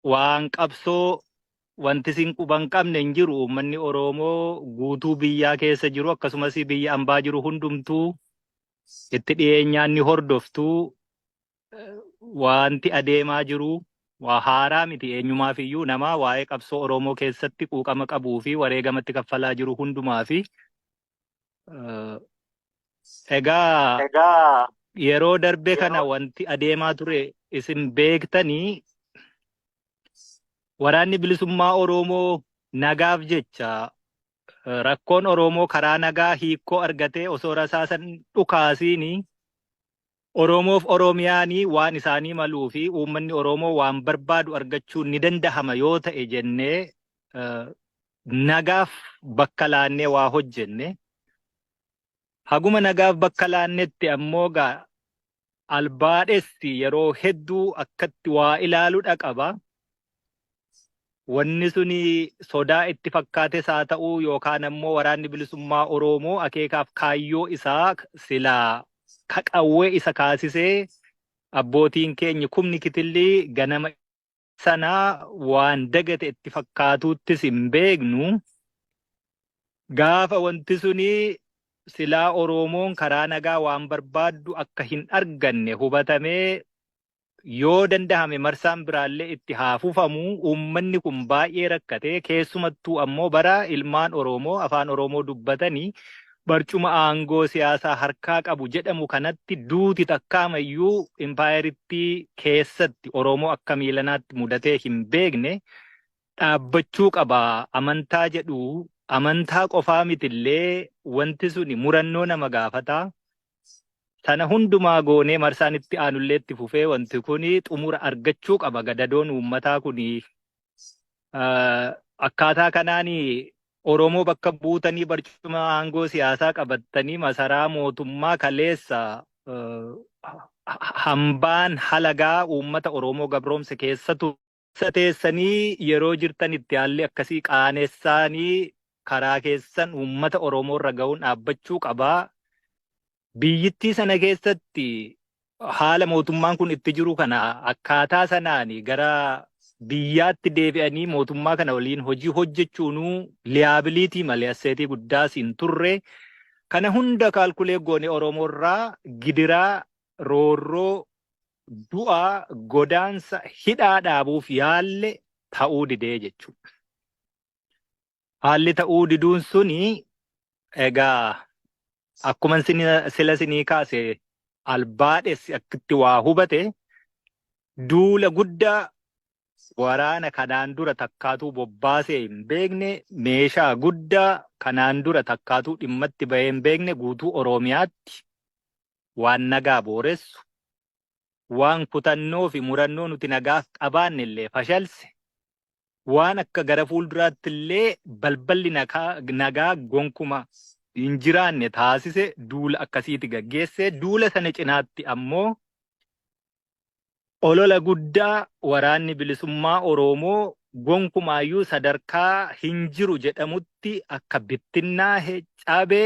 waan qabsoo wanti isin quba hin qabne hin jiru uummanni Oroomoo guutuu biyyaa keessa jiru akkasumas biyya ambaa jiru hundumtuu itti dhiyeenyaan ni hordoftu wanti adeemaa jiru waa haaraa miti eenyumaaf iyyuu namaa waa'ee qabsoo Oroomoo keessatti quuqama qabuu fi wareegamatti kaffalaa jiru hundumaa fi Eh, Egaa Egaa yeroo darbe kana yeroo wanti adeemaa ture isin beektanii waraanni bilisummaa Oromoo nagaaf jecha eh, rakkoon Oromoo karaa nagaa hiikkoo argatee osoo rasaasan dhukaasiini Oromoof Oromiyaani waan isaanii maluu fi uummanni Oromoo waan barbaadu argachuun ni dandahama yoo ta'e jennee nagaaf bakka laannee waa hojjenne. Haguma nagaaf bakka laannetti ammoo gaa albaadhessi yeroo hedduu akkatti waa ilaalu dhaqaba. wanni suni sodaa itti fakkaates haa ta'uu yookaan ammoo waraanni bilisummaa Oroomoo akeekaaf kaayyoo isaa silaa ka qawwee isa kaasisee abbootiin keenyi kumni kitilli ganama sana waan dagate itti fakkaatuuttis hin beeknu gaafa wanti suni silaa Oroomoon karaa nagaa waan barbaaddu akka hin arganne hubatamee yoo dandahame marsaan biraallee itti haa fufamu uummanni kun baay'ee rakkatee keessumattuu ammoo bara ilmaan oroomoo afaan oroomoo dubbatani barcuma aangoo siyaasaa harkaa qabu jedhamu kanatti duuti takkaamayyuu impaayerittii keessatti oroomoo akka miilanaatti mudatee hin beekne dhaabbachuu qaba amantaa jedhu amantaa qofaa mitillee wanti suni murannoo nama gaafataa Sana hundumaa goonee marsaan itti aanullee itti fufee wanti kun xumura argachuu qaba gadadoon uummataa kun akkaataa kanaan Oromoo bakka buutanii barcuma aangoo siyaasaa qabattanii masaraa mootummaa kaleessa hambaan halagaa uummata Oromoo gabroomse keessa Keessa teessanii yeroo jirtanitti haalli akkasii qaanessaanii karaa keessan uummata Oromoo irra gahuun dhaabbachuu qaba. Biyyittii sana keessatti haala mootummaan kun itti jiru kana akkaataa sanaan gara biyyaatti deebi'anii mootummaa kana waliin hojii hojjechuunuu liyaabiliitii malee asseetii guddaas hin turre. Kana hunda kaalkulee goone Oromoo irraa gidiraa, roorroo, du'a, godaansa, hidhaa dhaabuuf yaalle ta'uu didee jechuudha. Haalli ta'uu diduun suni egaa akkuma sila sinii kaase albaadhessi akkitti waa hubate duula guddaa waraana kanaan dura takkaatuu bobbaasee hin beekne meeshaa guddaa kanaan dura takkaatuu dhimmatti bahee hin beekne guutuu Oromiyaatti waan nagaa booressu, waan kutannoo fi murannoo nuti nagaaf qabaanne illee fashalse, waan akka gara fuulduraatti illee balballi nagaa gonkuma hin jiraanne taasise duula akkasiiti gaggeesse. Duula sana cinaatti ammoo Olola guddaa Waraanni Bilisummaa Oroomoo gonkumaayyuu sadarkaa hin jiru jedhamutti akka bittinnaahe, cabe,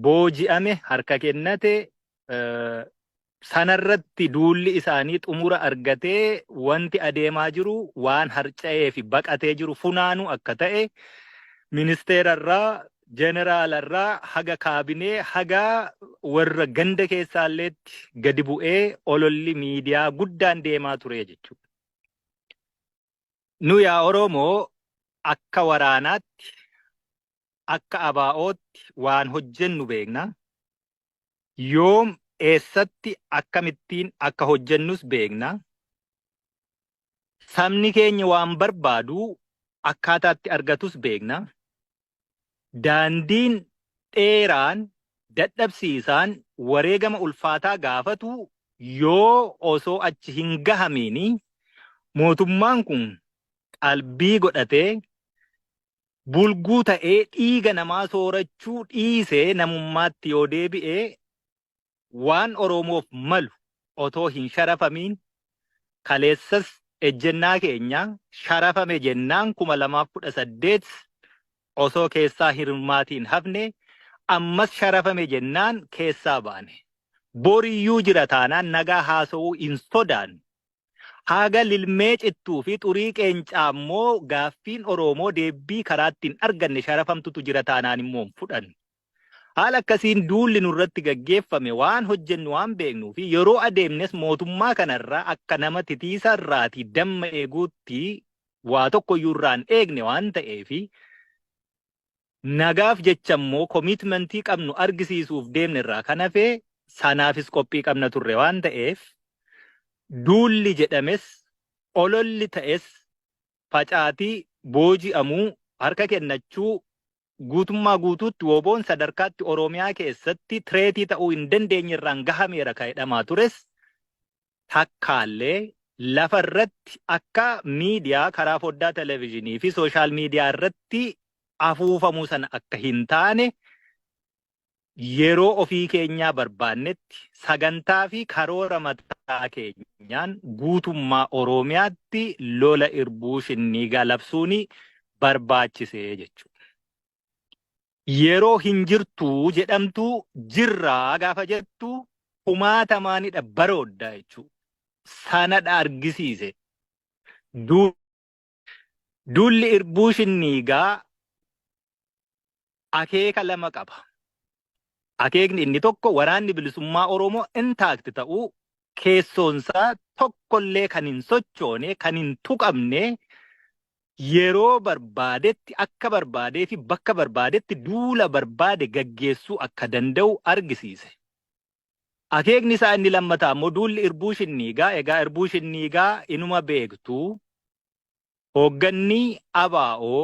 booji'ame, harka kennate, sanarratti duulli isaanii xumura argatee wanti adeemaa jiru waan harca'eefi baqatee jiru funaanuu akka ta'e ministeerarraa Jeneraala irraa haga kaabinee haga warra ganda keessaalleetti gadi bu'ee ololli miidiyaa guddaan deemaa ture jechuudha. Nu yaa Oromoo akka waraanaatti akka ABOtti waan hojjennu beekna. Yoom eessatti akkamittiin akka hojjennus beekna. Sabni keenya waan barbaadu akkaataa itti argatus beekna. Daandiin dheeraan, dadhabsiisaan, wareegama ulfaataa gaafatu yoo osoo achi hin gahamiin mootummaan kun qalbii godhatee, bulguu ta'ee dhiiga namaa soorachuu dhiisee namummaatti yoo deebi'e waan Oromoof malu otoo hin sharafamiin kaleessas ejjennaa keenya sharafame jennaan 2018 osoo keessaa hin hirmaatiin hafne ammas sharafame jennaan keessaa baane. Boriyyuu jira taanaan nagaa haasawuu hin sodaannu. Haga lilmee cittuu fi xurii qeencaa immoo gaaffiin Oromoo deebbii karaatti hin arganne sharafamtutu jira taanaan immoo hin fudhannu. Haala akkasiin duulli nurratti gaggeeffame waan hojjennu waan beeknuu fi yeroo adeemnes mootummaa kana irraa akka nama titiisa irraatii damma eeguutti waa tokko iyyuu irraa hin eegne waan ta'eef nagaaf jecha immoo komiitmentii qabnu argisiisuuf deemne irraa kan hafe sanaafis qophii qabna turre waan ta'eef duulli jedhames ololli ta'es facaatii booji'amuu harka kennachuu Guutummaa guutuutti wbon sadarkaatti Oromiyaa keessatti threat ta'uu hin dandeenye irraan gahameera ka jedhamaa tures takkaallee lafa irratti akka media karaa foddaa television fi social media irratti afuufamuu sana akka hin taane Yeroo ofii keenyaa barbaannetti sagantaa fi karoora mataa keenyaan guutummaa Oromiyaatti lola irbuu shinniigaa labsuun barbaachise jechuudha. Yeroo hin jirtu jedhamtu jirra gaafa jettu kumaatamaanidha baroodda jechuudha. Sanadha argisiise. Duulli irbuu shinniigaa akeeka lama qaba. Akeekni inni tokko waraanni bilisummaa Oromoo intaakti ta'uu keessoonsaa tokkollee kan hin sochoone, kan hin tuqamne yeroo barbaadetti akka barbaadee fi bakka barbaadetti duula barbaade gaggeessuu akka danda'u argisiise. Akeekni isaa inni lammataa immoo duulli irbuu shinniigaa, egaa irbuu shinniigaa inuma beektu, hoogganni ABO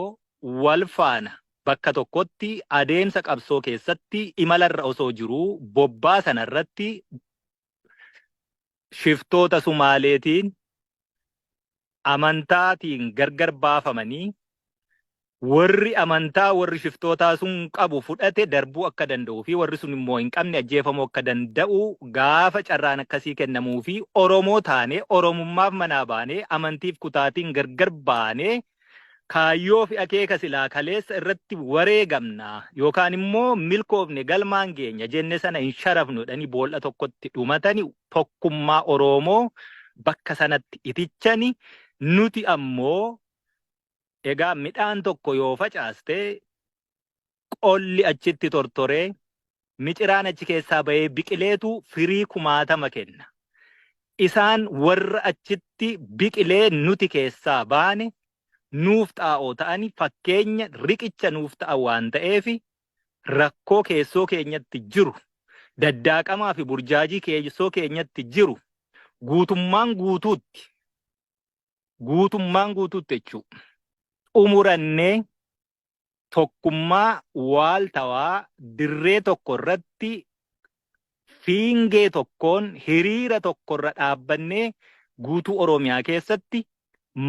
wal faana bakka tokkotti adeemsa qabsoo keessatti imalarra osoo jiruu bobbaa sanarratti shiftoota Sumaaleetiin amantaatiin gargar baafamanii warri amantaa warri shiftootaa sun qabu fudhate darbuu akka danda'uu fi warri sun immoo hin qabne ajjeefamuu akka danda'u gaafa carraan akkasii kennamuu fi Oromoo taanee Oromummaaf manaa baanee amantiif kutaatiin gargar baanee Kaayyoo fi akeeka silaa kaleessa irratti wareegamna yookaan immoo milkoofne galmaan geenya jenne sana hin sharafnu jedhanii bool'a tokkotti dhumatani tokkummaa Oroomoo bakka sanatti itichani nuti ammoo egaa midhaan tokko yoo facaaste qolli achitti tortoree miciraan achi keessaa bahee biqileetu firii kumaatama kenna. Isaan warra achitti biqilee nuti keessaa baane nuuf xaa'oo ta'ani fakkeenya riqicha nuuf ta'a waan ta'eef rakkoo keessoo keenyatti jiru daddaaqamaa fi burjaajii keessoo keenyatti jiru guutummaan guutuutti guutummaan guutuutti jechuu xumurannee tokkummaa waaltawaa dirree tokko irratti fiingee tokkoon hiriira tokko irra dhaabbannee guutuu Oromiyaa keessatti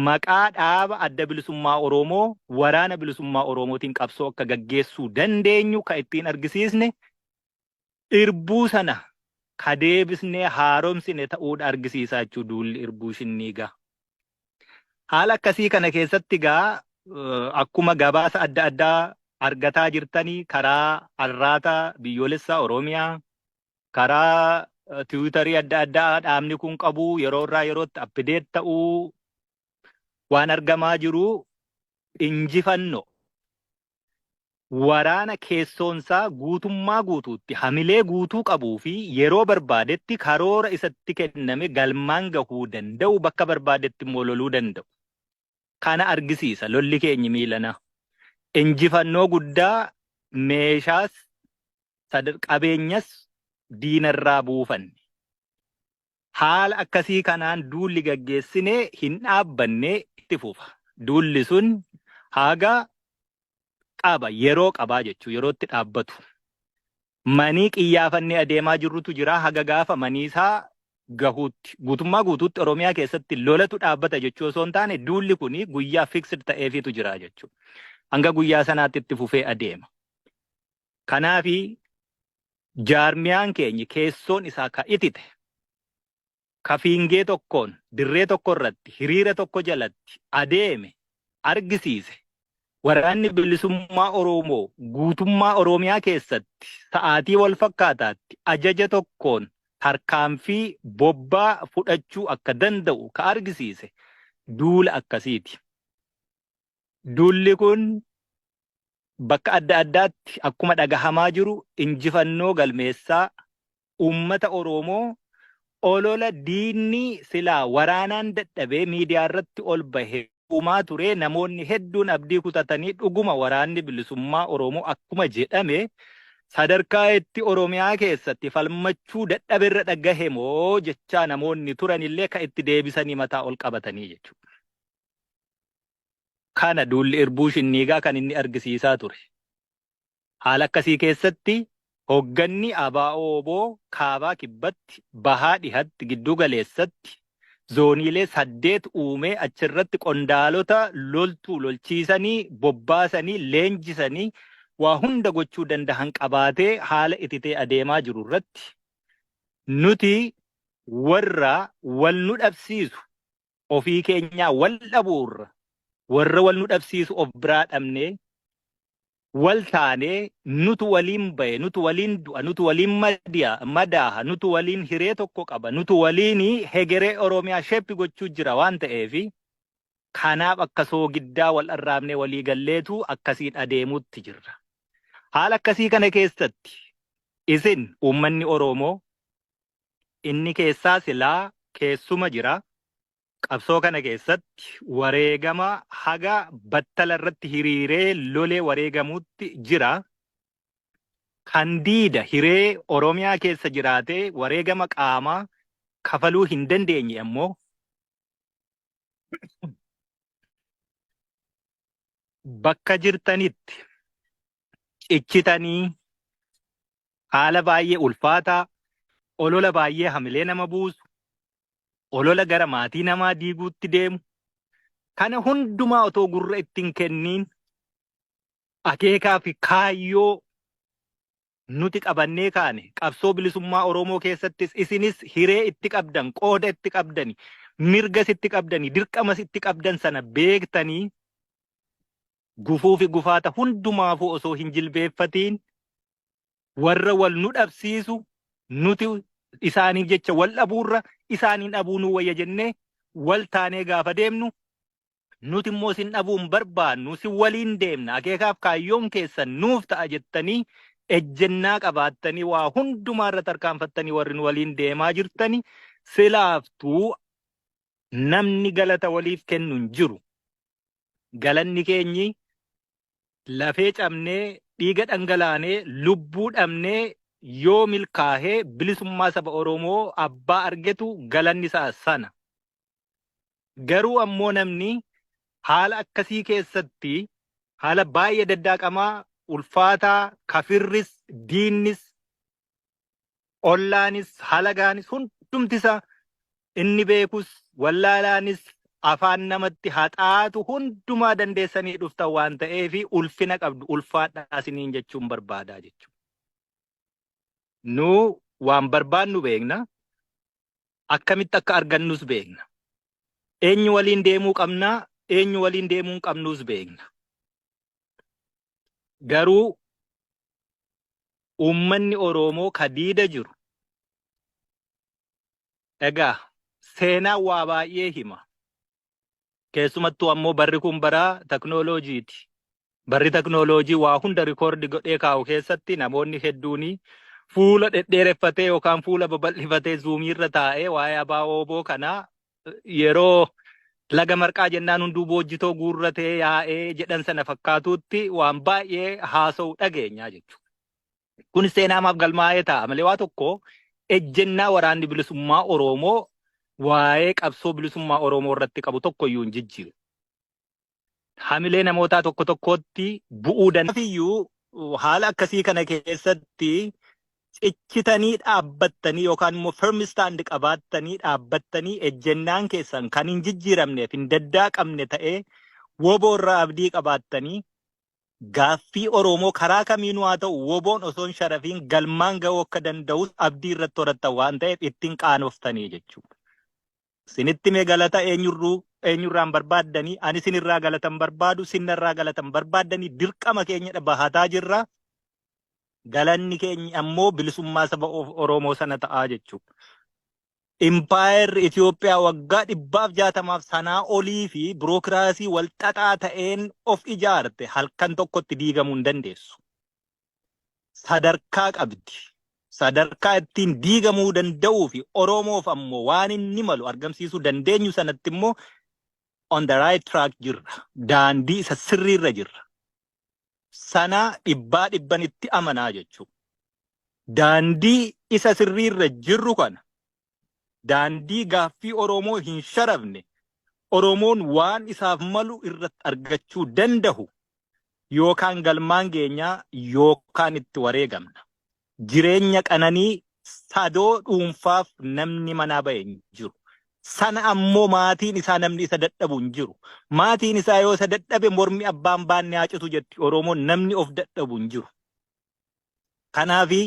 maqaa dhaaba adda bilisummaa Oromoo waraana bilisummaa Oromootiin qabsoo akka gaggeessuu dandeenyu kan ittiin argisiisne Irbuu sana ka deebisnee haaromsine ta'uudha argisiisaa jechuudha duulli irbuu shinnii egaa. Haala akkasii kana keessatti egaa akkuma gabaasa adda addaa argataa jirtanii karaa arraata biyyoolessaa Oromiyaa, karaa tiwiitarii adda addaa dhaabni kun qabu yeroo irraa yerootti appideet ta'uu waan argamaa jiru injifannoo waraana keessoonsaa guutummaa guutuutti hamilee guutuu qabuu fi yeroo barbaadetti karoora isatti kenname galmaan gahuu danda'u bakka barbaadetti immoo loluu danda'u. Kana argisiisa lolli keenyi miilanaa. Injifannoo guddaa meeshaas qabeenyas diinarraa buufanne. Haala akkasii kanaan duulli gaggeessine hin dhaabbanne itti fufa. Duulli sun haga qaba, yeroo qabaa jechuu yerootti dhaabbatu. Manii qiyyaafannee adeemaa jirrutu jira haga gaafa maniisaa gahuutti. Guutummaa guutuutti Oromiyaa keessatti lolatu dhaabbata jechuu osoo hin taane duulli kun guyyaa fixed ta'eefiitu jira jechuudha. Hanga guyyaa sanaatti itti fufee adeema. Kanaafi jaarmiyaan keenya keessoon isaa ka itite, ka fiingee tokkoon dirree tokko irratti hiriira tokko jalatti adeeme argisiise Waraanni Bilisummaa Oromoo guutummaa Oromiyaa keessatti sa'aatii wal fakkaataatti ajaja tokkoon tarkaanfii bobbaa fudhachuu akka danda'u ka argisiise duula akkasiiti. Duulli kun bakka adda addaatti akkuma dhagahamaa jiru injifannoo galmeessaa uummata Oroomoo olola diinni silaa waraanaan dadhabee miidiyaa irratti ol bahe uumaa turee namoonni hedduun abdii kutatanii dhuguma waraanni bilisummaa Oroomoo akkuma jedhame sadarkaa itti Oromiyaa keessatti falmachuu dadhabe irra dhagahe moo jechaa namoonni turan illee ka itti deebisanii mataa ol qabatanii jechuudha. kana duulli irbuu shinniigaa kan inni argisiisaa ture. Haala akkasii keessatti hogganni ABO-wbo Kaabaa Kibbatti, Bahaa Dhihatti, Gidduu Galeessatti zooniilee saddeet uumee achirratti qondaalota loltuu lolchiisanii, bobbaasanii, leenjisanii waa hunda gochuu dandahan qabaatee haala ititee adeemaa jiru irratti nuti warra wal nu dhabsiisu ofii keenyaa wal dhabuurra warra wal nu dhabsiisu of biraa dhabnee wal taanee nutu waliin bahe nutu waliin du'a nutu waliin madiya madaaha nutu waliin hiree tokko qaba nutu waliin hegeree oromiyaa sheppi gochuu jira waan ta'eef kanaaf akka soogiddaa wal arraabnee walii galleetu akkasiin adeemuutti jirra. Haala akkasii kana keessatti isin uummanni Oromoo Inni keessaa silaa keessuma jira. Qabsoo kana keessatti wareegama haga battala irratti hiriiree lolee wareegamuutti jira. Kan diida hiree Oromiyaa keessa jiraatee wareegama qaamaa kafaluu hin dandeenye ammoo bakka jirtanitti cichitanii haala baay'ee ulfaataa olola baay'ee hamilee nama buusu olola gara maatii namaa diiguutti deemu kana hundumaa otoo gurra ittiin kenniin akeekaa fi kaayyoo nuti qabannee kaane qabsoo bilisummaa Oromoo keessattis isinis hiree itti qabdan qooda itti qabdani mirgas itti qabdani dirqamas itti qabdan sana beektanii gufuufi gufaata hundumaafuu osoo hin jilbeeffatiin warra wal nu dhabsiisu nuti isaaniif jecha wal dhabuurra isaaniin dhabuu nuu wayya jennee wal taanee gaafa deemnu nuti immoo isin dhabuu hin barbaannu si waliin deemna akeekaaf kaayyoon keessan nuuf ta'a jettanii ejjennaa qabaattanii waa hundumaa irra tarkaanfattanii warri nu waliin deemaa jirtani silaaftuu namni galata waliif kennu hin jiru. galanni keenyi lafee cabnee dhiiga dhangalaanee lubbuu dhabnee yoo milkaahee bilisummaa saba Oromoo abbaa argetu galanni isaa sana. Garuu ammoo namni haala akkasii keessatti haala baay'ee daddaaqamaa ulfaataa kafirris diinnis ollaanis halagaanis hundumti isaa inni beekus wallaalaanis afaan namatti haxaatu hundumaa dandeessanii dhuftan waan ta'eef ulfina qabdu ulfaadhaa isiniin jechuun barbaadaa jechuudha. Nu waan barbaannu beekna akkamitti akka argannus beekna. Eenyu waliin deemuu qabnaa eenyu waliin deemuu hin qabnus beekna. Garuu uummanni Oroomoo ka diida jiru egaa seenaan waa baay'ee hima. Keessumattuu ammoo barri kun bara teknooloojiiti. Barri teknooloojii waa hunda rikoordi godhee kaa'u keessatti namoonni hedduun fuula dhedheereffatee yookaan fuula babal'ifatee zuumiirra taa'ee waa'ee abaa ooboo kanaa yeroo laga marqaa jennaan hunduu boojjitoo guurratee yaa'ee jedhan sana fakkaatuutti waan baay'ee haasa'u dhageenyaa jechuudha. Kun seenaa maaf galmaa'ee ta'a malee waa tokko ejjennaa waraanni bilisummaa Oromoo waa'ee qabsoo bilisummaa Oromoo irratti qabu tokko iyyuu hin jijjiiru. hamilee namootaa tokko tokkootti bu'uu danda'u. haala akkasii kana keessatti cichitanii dhaabbattanii yookaan immoo firm stand qabaattanii dhaabbattanii ejjennaan keessan kan hin jijjiiramneef hin daddaaqamne ta'ee woboo irraa abdii qabaattanii gaaffii Oromoo karaa kamiinuu haa ta'u woboon osoo hin sharafiin galmaan ga'uu akka danda'us abdii irratti horattan waan ta'eef ittiin qaanoftanii jechuudha. Sinitti hime galata eenyurruu eenyurraan barbaaddanii ani sinirraa galatan barbaadu sinnarraa galatan barbaaddanii dirqama keenyadha bahataa jirra. Galanni keenya ammoo bilisummaa saba of- Oromoo sana ta'aa jechuudha. Impaayerri Itoophiyaa waggaa dhibbaaf jaatamaaf sanaa olii fi birookiraasii walxaxaa ta'een of ijaarte halkan tokkotti diigamuu hin dandeessu. sadarkaa qabdi. Sadarkaa ittiin diigamuu danda'uu fi Oromoof ammoo waan inni malu argamsiisuu dandeenyu sanatti immoo on the right track jirra. Daandii isa sirriirra jirra. Sana dhibbaa dhibban itti amanaa jechuudha. Daandii isa sirriirra jirru kana daandii gaaffii Oromoo hin sharafne, Oromoon waan isaaf malu irratti argachuu dandahu, yookaan galmaan geenya yookaan itti wareegamna. Jireenya qananii sadoo dhuunfaaf namni manaa bahe hin jiru. Sana ammoo maatiin isaa namni isa dadhabu hin jiru. Maatiin isaa yoo isa dadhabe mormi abbaan baanne haa citu jetti Oromoon namni of dadhabu hin jiru. Kanaafi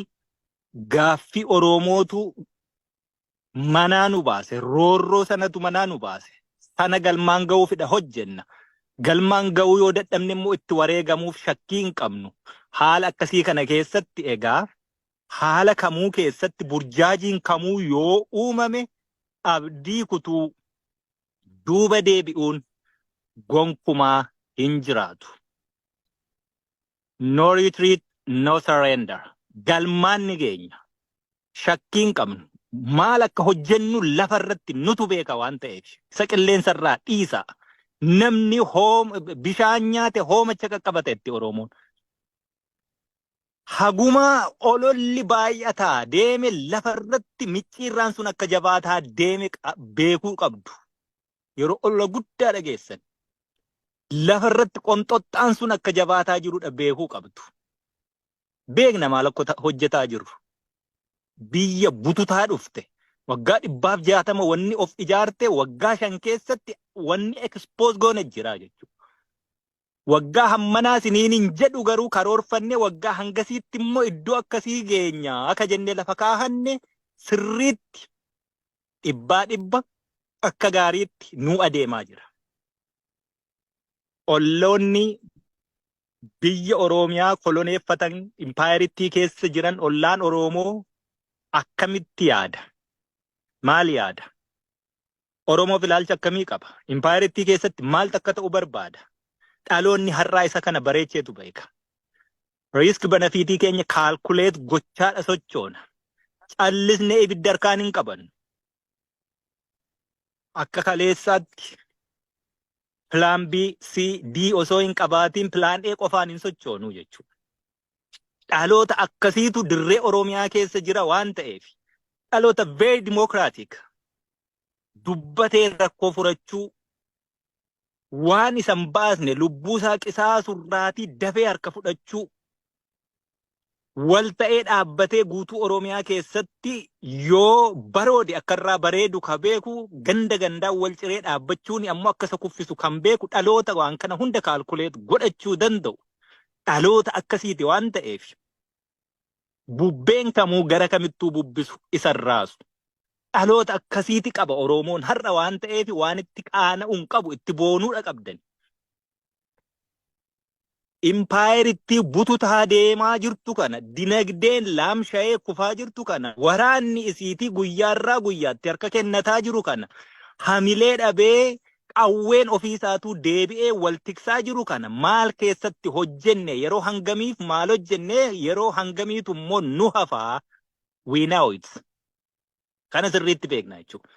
Gaaffii Oromootu manaa nu baase. Roorroo sanatu manaa nu baase. Sana galmaan ga'uufidha hojjenna. Galmaan ga'uu yoo dadhabne immoo itti wareegamuuf shakkii hin qabnu. Haala akkasii kana keessatti egaa haala kamuu keessatti burjaajiin kamuu yoo uumame abdii kutuu duuba deebi'uun gonkumaa hin jiraatu. No retreat, no surrender. Galmaan ni geenya. Shakkii hin qabnu. Maal akka hojjennu lafa irratti nutu beeka waan ta'eef. Isa qilleensa irraa dhiisa. Namni hoom- bishaan nyaate hoomacha qaqqabata itti Oromoon. Hagumaa ololli baay'ataa deeme lafa irratti micciirraan sun akka jabaataa deeme qa- beekuu qabdu. yeroo olola guddaa dhageessan lafa irratti qomxoxxaan sun akka jabaataa jirudha beekuu qabdu. Beekna maal akka hojjetaa jiru. Biyya bututaa dhufte. Waggaa dhibbaaf jaatama wanni of ijaarte waggaa shan keessatti wanni ekspoos goone jira jechuudha. Waggaa hammanaa siniin hin jedhu garuu karoorfanne waggaa hangasiitti immoo iddoo akkasii geenya akka jennee lafa kaahanne sirriitti dhibbaa dhibba akka gaariitti nuu adeemaa jira. Olloonni biyya Oromiyaa koloneeffatan impaayerittii keessa jiran ollaan Oromoo akkamitti yaada? Maal yaada? Oromoof ilaalcha akkamii qaba? Impaayerittii keessatti maaltu akka ta'u barbaada? Dhaloonni har'aa isa kana bareecheetu beeka. Riisk benefiitii keenya kaalkuleet gochaadha sochoona. Callisnee ibidda harkaan hin qabannu. Akka kaleessaatti pilaan B, C, D osoo hin qabaatiin pilaan A qofaan hin sochoonu jechuudha. Dhaloota akkasiitu dirree Oromiyaa keessa jira waan ta'eef dhaloota very democratic dubbatee rakkoo furachuu waan isa hin baasne lubbuu isaa qisaasu irraatii dafee harka fudhachuu wal ta'ee dhaabbatee guutuu Oromiyaa keessatti yoo baroode akka irraa bareedu ka beeku ganda gandaan wal ciree dhaabbachuun ammoo akka isa kuffisu kan beeku dhaloota waan kana hunda kaalkuleet godhachuu danda'u dhaloota akkasiiti waan ta'eef bubbeen kamuu gara kamittuu bubbisu isa hin raasu. Dhaloota akkasiiti qaba Oromoon har'a waan ta'eef waan itti qaana'u hin qabu itti boonuudha qabdan. Impaayerittii bututaa deemaa jirtu kana dinagdeen laamsha'ee kufaa jirtu kana waraanni isiitii guyyaarraa guyyaatti harka kennataa jiru kana hamilee dhabee qawween ofii isaatuu deebi'ee wal tiksaa jiru kana maal keessatti hojjenne, yeroo hangamiif maal hojjenne, yeroo hangamiitu immoo nu hafa, we know it. Kana sirriitti beekna jechuudha.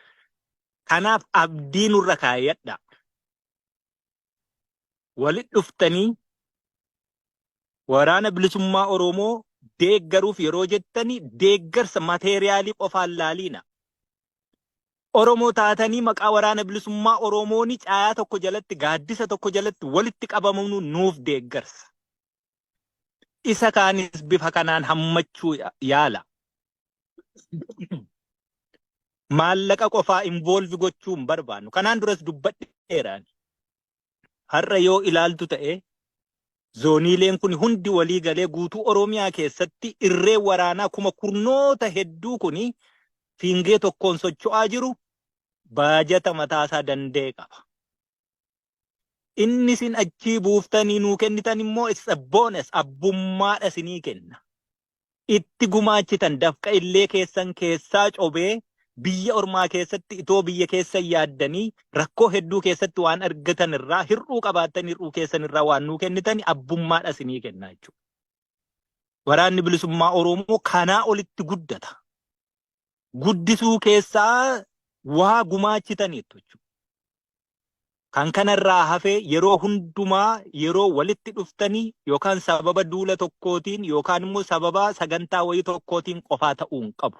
Kanaaf abdii nurra kaayadha. Walit dhuftanii waraana bilisummaa Oromoo deeggaruuf yeroo jettani deeggarsa mateeriyaalii qofaan laaliina. Oromoo taatanii maqaa Waraana Bilisummaa Oromooni caayaa tokko jalatti, gaaddisa tokko jalatti walitti qabamanu nuuf deeggarsa. Isa kaanis bifa kanaan hammachuu yaala. Maallaqa qofaa involve gochuu hin barbaannu. Kanaan duras dubbadheeraan. har'a yoo ilaaltu ta'e zooniileen kun hundi walii galee guutuu Oromiyaa keessatti irree waraanaa kuma kurnoota hedduu kun fiingee tokkoon socho'aa jiru baajata mataasaa danda'e qaba. Inni isin achii buuftanii nuu kennitan immoo it's a bonus abbummaadha isinii kenna. itti gumaachitan dafqa illee keessan keessaa cobee biyya ormaa keessatti itoo biyya keessan yaaddanii rakkoo hedduu keessatti waan argatan irraa hir'uu qabaattan hir'uu keessan irraa waan nuu kennitani abbummaadha isinii kennaa jechuudha. Waraanni bilisummaa Oromoo kanaa olitti guddata. guddisuu keessaa waa gumaachitaniittu jechuudha. Kan kanarraa hafee yeroo hundumaa yeroo walitti dhuftanii yookaan sababa duula tokkootiin yookaan immoo sababa sagantaa wayii tokkootiin qofaa ta'uu hin qabu.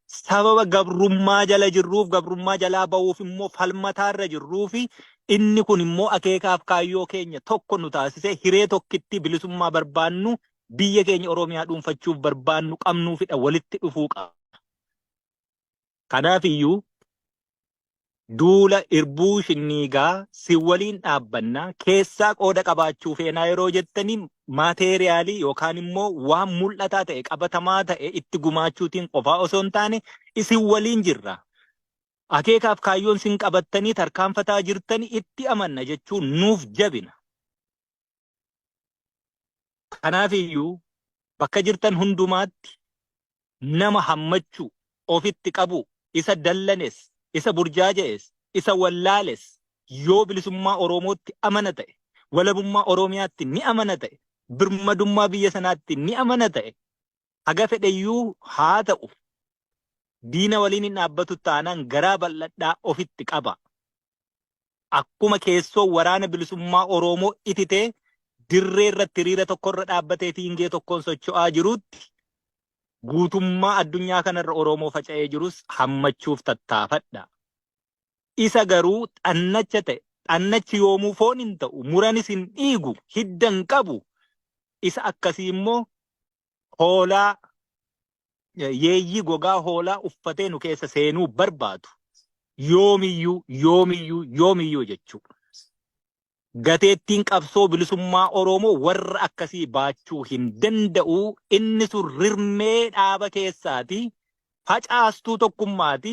Sababa gabrummaa jala jirruuf gabrummaa jalaa ba'uuf immoo falmataarra jirruu fi inni kun immoo akeekaaf kaayyoo keenya tokko nu taasisee hiree tokkitti bilisummaa barbaannu biyya keenya Oromiyaa dhuunfachuuf barbaannu qabnuufidha walitti dhufuu qabna. Kanaaf iyyuu duula irbuu shinniigaa si waliin dhaabbanna keessaa qooda qabaachuu feenaa yeroo jettanii maateeriyaalii yookaan immoo waan mul'ataa ta'e qabatamaa ta'e itti gumaachuutiin qofaa osoo hin taane isin waliin jirra. Akeekaaf kaayyoon sin qabattanii tarkaanfataa jirtanii itti amanna jechuun nuuf jabina. Kanaaf iyyuu bakka jirtan hundumaatti nama hammachuu, ofitti qabuu, isa dallanes, isa burjaaja'es, isa wallaales yoo bilisummaa Oromootti amana ta'e, walabummaa Oromiyaatti ni amana ta'e, birmadummaa biyya sanaatti ni amana ta'e, haga fedhe iyyuu haa ta'u diina waliin hin dhaabbatu taanaan garaa bal'adhaa ofitti qabaa. akkuma keessoo waraana bilisummaa Oroomoo ititee dirree irratti hiriira tokko irra dhaabbatee fiingee tokkoon socho'aa jiruutti guutummaa addunyaa kana irra Oroomoo faca'ee jirus hammachuuf tattaafadha. Isa garuu xannacha ta'e xannachi yoomuu foon hin ta'u muranis hin dhiigu hidda hin qabu isa akkasii immoo hoolaa yeeyyii gogaa hoolaa uffatee nu keessa seenuu barbaadu yoomiyyuu yoomiyyuu yoomiyyuu jechuu gateettiin qabsoo bilisummaa Oromoo warra akkasii baachuu hin danda'u inni sun rirmee dhaaba keessaati facaastuu tokkummaati.